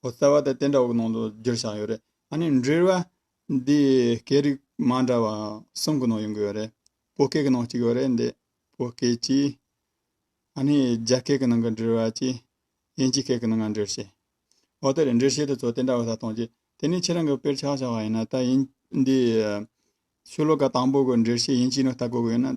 ཧོ་རྩ་བ་དང་དེ་འདྲ་བོ་ནང་དུ་བསྒྱུར་བཞག་ཡོད་རེད་ཨ་ནི་འབྲེལ་བ་འདི་སྐད་རིགས་མ་འདྲ་བ་གསུམ་གི་ནང་ཡོང་གི་ཡོད་རེད་བོད་སྐད་ཀྱི་ནང་གཅིག་ཡོད་རེད་འདི་བོད་སྐད་ཀྱི་ཨ་ནི་རྒྱ་སྐད་ཀྱི་ནང་གི་འབྲེལ་བ་ཀྱི་དབྱིན་ཇི་སྐད་ཀྱི་ནང་ང་འབྲེལ་བྱས་ཨོ་དེ་རེད་འབྲེལ་བྱེད་དུ་ཚོ་དེ་འདྲ་བོ་ས་གཏོང་རྗེས་དེ་ནས་ཁྱེད་རང་གི་དཔེར་ཆགས་བཞག་པ་ཡིན་ན་ད་དབྱིན་འདི་ཆོས་ལོ་ག་དང་པོ་གི་འབྲེལ་བྱེད་དབྱིན་ཇི་ནང་ལྟ་དགོས་གི་ཡོད་ན་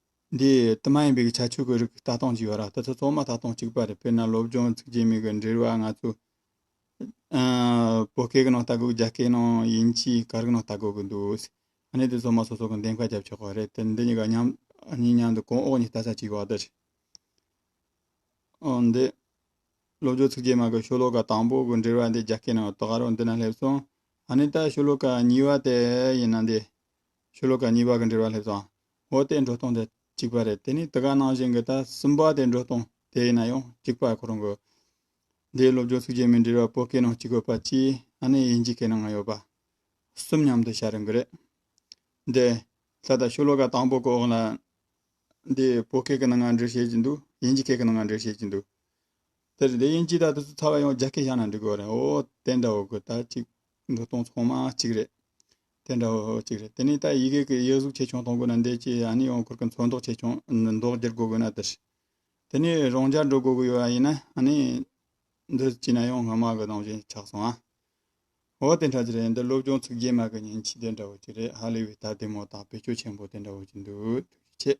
འདི་དུ་མ་ཡིན་པའི་ཁྱད་ཆོས་ཀྱི་རིགས་ལྟ་སྟངས་ཅིག་ཡོད་ར་དེ་ཚོ་ཚང་མ་ལྟ་སྟངས་གཅིག་པ་རེད་དཔེར་ན་སློབ་སྦྱོང་ཚིག་རྗེས་མིག་གི་འབྲེལ་བ་ང་ཚོ་བོད་སྐད་ཀྱི་ནང་ལྟ་དགོས་རྒྱ་སྐད་ནང་དབྱིན་ཇི་གར་གྱི་ནང་ལྟ་དགོས་ཀྱི་འདུག་ཨ་ནི་དེ་ཚང་མ་སོ་སོ་གི་འདེམས་ཀ་བརྒྱབ་ཆོག་པ་རེད་དེ་འདི་གཉིས་ཀ་མཉམ་གཉིས་མཉམ་དུ་གོང་འོག་གཉིས་ལྟ་ས་ཅིག་ཡོད་རེད། འོན་ཏེ་སློབ་སྦྱོང་ཚིག་རྗེས་མ་གི་ཤོ་ལོ་ཀ་དང་པོ་གི་འབྲེལ་བ་འདི་རྒྱ་སྐད་ནང་ལྟ་ག་རུ་འདི་ན་སླེབས་སོང་ཨ་ནི་ད་ཤོ་ལོ་ཀ་གཉིས་པ་དེ་ཡིན་ན་འདི་ཤོ་ལོ་ཀ་གཉིས་པ་གི་འབྲེལ་བ་སླེབས་སོང་ངོ་བསྟན་འགྲོ་སྟངས་དེ་གཅིག་པ་རེད་དེ་ནི་དེ་ག་ནང་བཞིན་གྱི་ད་སུན་པ་དེ་འགྲོ་སྟངས་དེ་ཡིན་ན་ཡང་གཅིག་པ་གོ་རུང་གི། འདིའི་སློབ་སྦྱོང་ཚིག་བརྗོད་མི་འབྲེལ་བ་པོ་གའི་ནང་གཅིག་དགོས་པ་གཅིག་ཨ་ནེ་དབྱིན་ཇིའི་གའི་ནང་ཡོད་པ་གསུམ་མཉམ་དུ་བྱ་རུང་གི་རེད། འདི་ལྷ་དང་ཤུ་ལོ་ཀ་དང་པོ་གི་འོག་ལ་འདི་པོ་གའི་གི་ནང་ང་འབྲེལ་བྱེད་ཀྱི་འདུག་དབྱིན་ཇི་གའི་གི་ནང་ང་འབྲེལ་བྱེད་ཀྱི་འདུག་དེར་འདི་དབྱིན་ཇི་ད་དུ་ཚུ་ཚ་བ་ཡང་རྒྱ་སྐད་བྱ་ན་འགྲིག་གི་འོ་རེད་འོ་དེ་འདྲ་བོ་གི་ད་གཅིག་འགྲོ་སྟངས་ཚང་མ་གཅིག་རེད། དེ་འདྲ་བོ་གཅིག་རེད་དེ་ནས་ད་ཡི་གེ་གི་དབྱེ་གཟུགས་ཆེ་ཆུང་གཏོང་དགོས་ན་འདས་ཀྱི་ཡང་ནི་ཡང་འཁོར་གི་མཚོན་མདོག་ཆེ་ཆུང་མདོག་བསྒྱུར་དགོས་དགོས་ན་དེ་ཞིག་དེ་ནས་རང་རྒྱལ་འགྲོ་དགོས་དགོས་ཡོད་ཡིན་ན་ནི་འདི་ཅི་ན་ཡང་སྔ་མ་གི་རང་བཞིན་ཆགས་སོང་ཨ། འོ་དེ་འདྲ་ཅིག་རེད་འདི་སློབ་སྦྱོང་ཚུགས་རྗེས་མ་གི་ཉིན་གཅིག་དེ་འདྲ་བོ་ཅིག་རེད་ཧ་ལས་པའི་ད་ལྟའི་མོ་དང་བེད་སྤྱོད་ཆེན་པོ་དེ་འདྲ་བོ་ཅིག་འདུག་ཐུགས་རྗེ་ཆེ།